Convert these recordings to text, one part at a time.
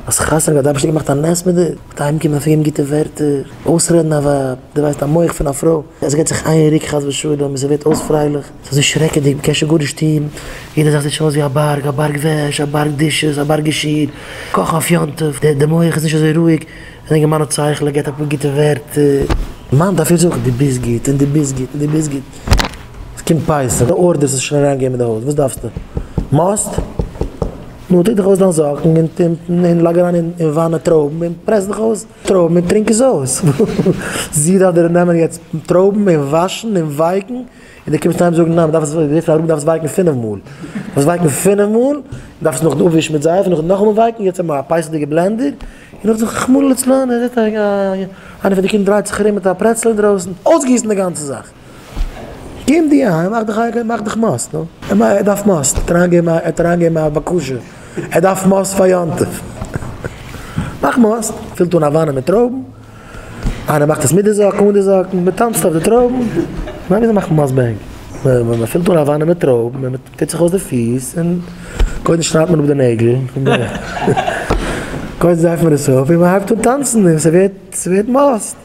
האסט חתונה געהאט אייבערשטער געמאכט א נס מיט דיר, מיט אהיים קומען פארגיבן גוטע ווערטער, אויסרעדן א ווייב, דו ווייסט א מח פון א פרוי, עס געט זיך איין ריק חס ושלום און ס'ווערט אויס פרייליך, ס'איז אזוי שרעקעדיג, מ'קען שוין גארנישט טון, יעדע זאך זעט שוין אויס ווי א בארג, א בארג וועש, א בארג דישעס, א בארג געשיר, קאכן אויף יום טוב, די די מח איז נישט אזוי רואיג, די אינגערמאן האט שכל, ער געט אפאר גוטע ווערטער, מאן דארף איר זאגן דו ביסט גוט און דו ביסט גוט און דו ביסט גוט, ס'קומט פסח, די ארדערס איז שוין אריינגעגעבן אין די הויז, וואס דארפסטו? מאסט? נו, טו דיך אויס דיין זאקן און טומטן און לייג אריין אין וואנע טרויבן און פרעס דיך אויס טרויבן און טרינק עס אויס. זי דארף דיר נעמען יעצט טרויבן און וואשן און ווייקן און דו קומסט אהיים זאגן ניין, מ'דארף עס וויפיל אראפ מ'דארף עס ווייקן פינף מאל, מ'דארף עס ווייקן פינף מאל, מ'דארף עס נאכדעם אפווישן מיט זייף און נאכדעם נאכאמאל ווייקן, יעצט האבן מיר א פייסעדיגע בלענדער, און נאך זיך רחמנא לצלן, איינער פון די קינדער דרייט זיך ארום מיט א פרעצל אינדרויסן, אויסגיסן די גאנצע זאך. קום דו אהיים, מאך דיך איידל, מאך דיך מאס, נו. ער דארף מאס, ער האט אריינגעגעבן א, ער האט אריינגעגעבן א בקשה, ער דארף מאס פאר יום טוב. מאך מאס, פילט אן א וואנע מיט טרויבן, איינער מאכט עס מיט די זאקן, אן די זאקן, מען טאנצט אויף די טרויבן, כ'מיין וויאזוי מאכט מען מאס ביי ענק? מען פילט אן א וואנע מיט טרויבן, מען טוט זיך אויס די פיס, און קודם שניידט מען אפ די נעגל, קודם זייפט מען עס אויף, און מען הייבט אן טאנצן, און ס'ווערט, ס'ווערט מאס.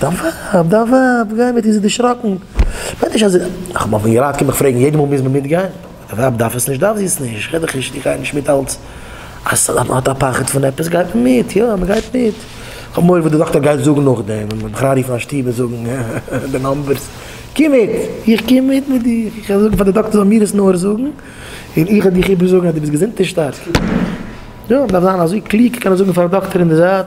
דאבאבאב דאבאבאב גיי מיט איר זי דערשראקן מיין נישט אז זי איך האב אויפן געראט קום איך פרעגן יעדע מאל מוז מען מיטגיין דאבאבאב דארף עס נישט דארף זי עס נישט איך רעד דאך נישט איך גיי נישט מיט אלץ אז ס'איז אז מען האט א פחד פון עפעס גייט מען מיט יא מען גייט מיט כ'האב מורא וואס די דאקטער גייט זאגן נאכדעם ווען מען מיך אריינרופן א שטוב און זאגן די נאמבערס קום מיט איך קום מיט מיט דיר איך וועל זאגן פאר די דאקטער זאל מיר עס נאר זאגן און איך וועל דיך איבערזאגן אז די ביסט געזונט און שטארק יא מען דארף זיין אזוי קלוג כ'קען עס זאגן פארן דאקטער אין די זייט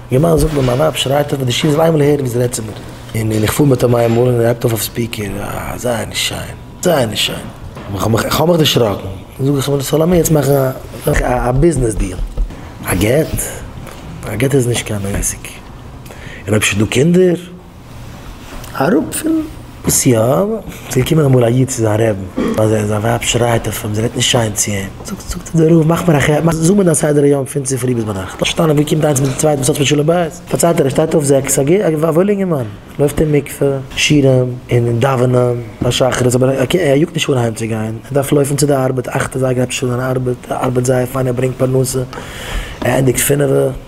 געמיינט זאגט מיר מיין ווייב שרייט אויף די שיעור זיי וויל הערן ווי זי רעדט צו מיר און איך פאר מיט אים איינמאל און ער הייבט אויף אויף ספיקער אה זייער נישט שיין זייער נישט שיין איך האב מיך דערשראקן זאג איך אים סאו לאמיר יעצט מאכן א ביזנעס דיעל א גט? א גט איז נישט קיין עסק און אויב ס'איז דא קינדער? אראפ פון סי' א, ס'איז געקומען אמאל א איד צו זיין רעבן, אז זיין ווייב שרייט אויף אים, זי רעדט נישט שיין צו אים, זאגט זאגט דער רב, מאך מיר א חשבון, זאג מיר דיין סדר היום פון צופרי ביז ביינאכט, לאזט שטיין ווי קומט איינס מיט די צווייטע, וואס האט מיט שלום בית, פארציילט ער, ער שטייט אויף זעקס, א ג א וואוילע אינגערמאן, לויפט אין מקווה, שירעם, און דאווענען פאר שחרית, אבער ער קען ער יאגט נישט אן אהיימצוגיין, ער דארף לויפן צו די ארבעט, אכט אזייגער עפעס איז זיין ארבעט, ער ארבעט זייער פיין, ער ברענגט פרנסה, ער ענדיגט פינעווע.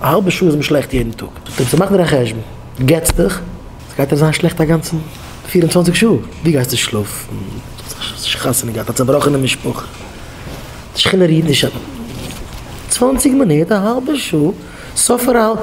א האלבע שעה איז מען שלעכט יעדן טאג. זאגט ער אים, צו מאכן דיר א חשבון, גט'ס דיך, ס'גייט דיר זיין שלעכט א גאנצע פֿיר און צוואַנציק שעה, ווי גייסטו שלאפן, האסט חתונה געהאט, א צעבראכענע משפחה, די שכינה רוהט נישט, צוואנציג מינוט, א האלבע שעה, סוף פאר א האלבע.